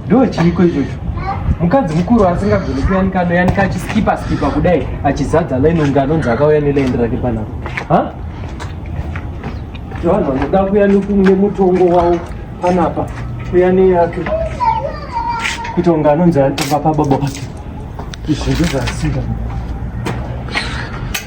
ndo chiiko ichocho mukadzi mukuru asingagoni kuyanika anoyanika achiskipa skipa kudai achizadza laini unge anonzi akauya nelaini rake panapa ha vanhu vanoda kuya nemutongo wavo panapa kuya neyake kuita unge anonzi atonga pababa vake izvi ndozvasinga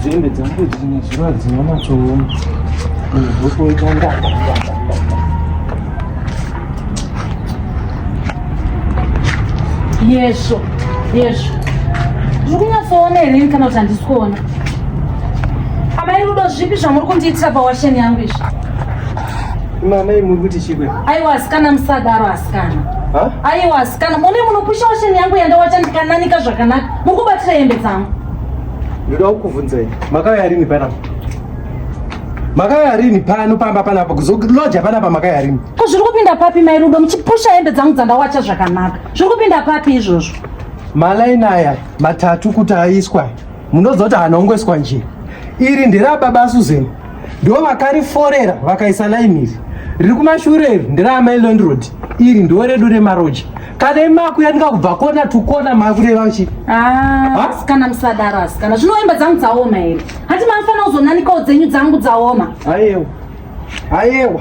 Dzembe dzangu dzine zuva dzinonatsooma ndokoita ndaka yesvo yesvo zviri kunyatsoona here ini kana kuti handisi kuona amai rudo zvipi zvamuri kundiitira pawasheni yangu izvi mamai muri kuti chikwe aiwa asikana musadaro asikana aiwa asikana mune munopusha washeni yangu yandawacha ndikananika zvakanaka muri kubatira hembe dzangu Ndoda kukuvhunzai. Makauya rini pana? Makauya rini pano pamba pana apa kuzokuloja pana apa makauya rini? Ko zviri kupinda papi mai Rudo muchipusha hembe dzangu dzandawacha zvakanaka. Zviri kupinda papi izvozvo? Malaini aya matatu kuti aiswa. Munoziva kuti anongoiswa njira. Iri ndera baba Susan. Ndivo vakariforera vakaisa laini iri. Riri kumashure iri ndera Mailon Road. Iri ndivo redu remaroja. kana imaku yatinga kubva kona tukona makureva uchi ah, asikana musadaro asikana zvinoemba dzangu dzaoma here hati mafana uzonanikawo dzenyu dzangu dzaoma ayewa ayewa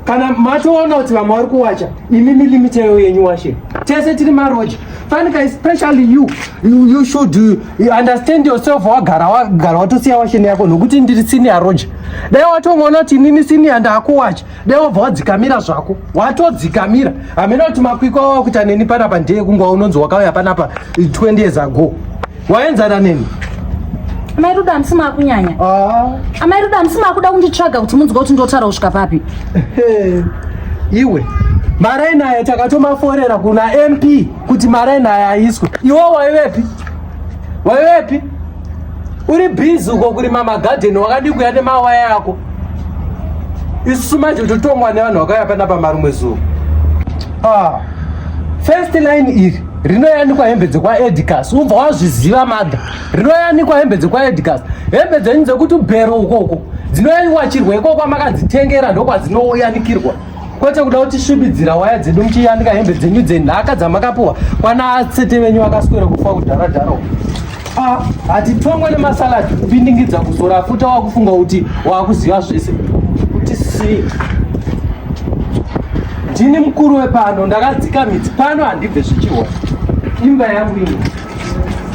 kana matoona kuti vamwe vari kuwacha imi milimiteyo yenyu washe tese tiri maroja fanika especially you you, you should you understand yourself wagara wagara watosiya washeni yako nokuti ndiri sini yaroja dai watongoona kuti inini sini yandakuwacha dai wabva wadzikamira zvako watodzikamira hamena kuti makwikwa wawakuita neni panapa ndeye kunga unonzi wakauya panapa 20 years ago waenzana neni amai ruda hamisi maakunyanya ah. amai ruda hamisi maakuda kunditsvaga kuti munzwa kuti ndotaura kusvika papi iwe maraini aya takatomaforera kuna mp kuti maraini aya aiswe iwo waivepi waivepi uri busy uko kurima magadheni wakadii kuya nemawaya ako isusu manje totongwa nevanhu vakauya panapa marumwe zuva ah, first line iri rinoyanikwa hembe dzekwaedicas ubva wazviziva madha rinoyanikwa hembe dzekwaedicas hembe dzenyu dzekuti ubhero ukoko dzinoyanikwa chirwa ikoko makadzitengera ndokwadzinoyanikirwa kwete kuda kuti svibidzira waya dzedu muchiyanika hembe dzenyu dzenhaka dzamakapuwa kwana asete venyu vakaswera kufa kudharadharo ah, hatitongwe nemasaladi kupindingidza kuzora futa wakufunga kuti wakuziva zvese kuti si ndini mukuru wepano ndakadzika midzi pano handibve zvichiona imba yangu ino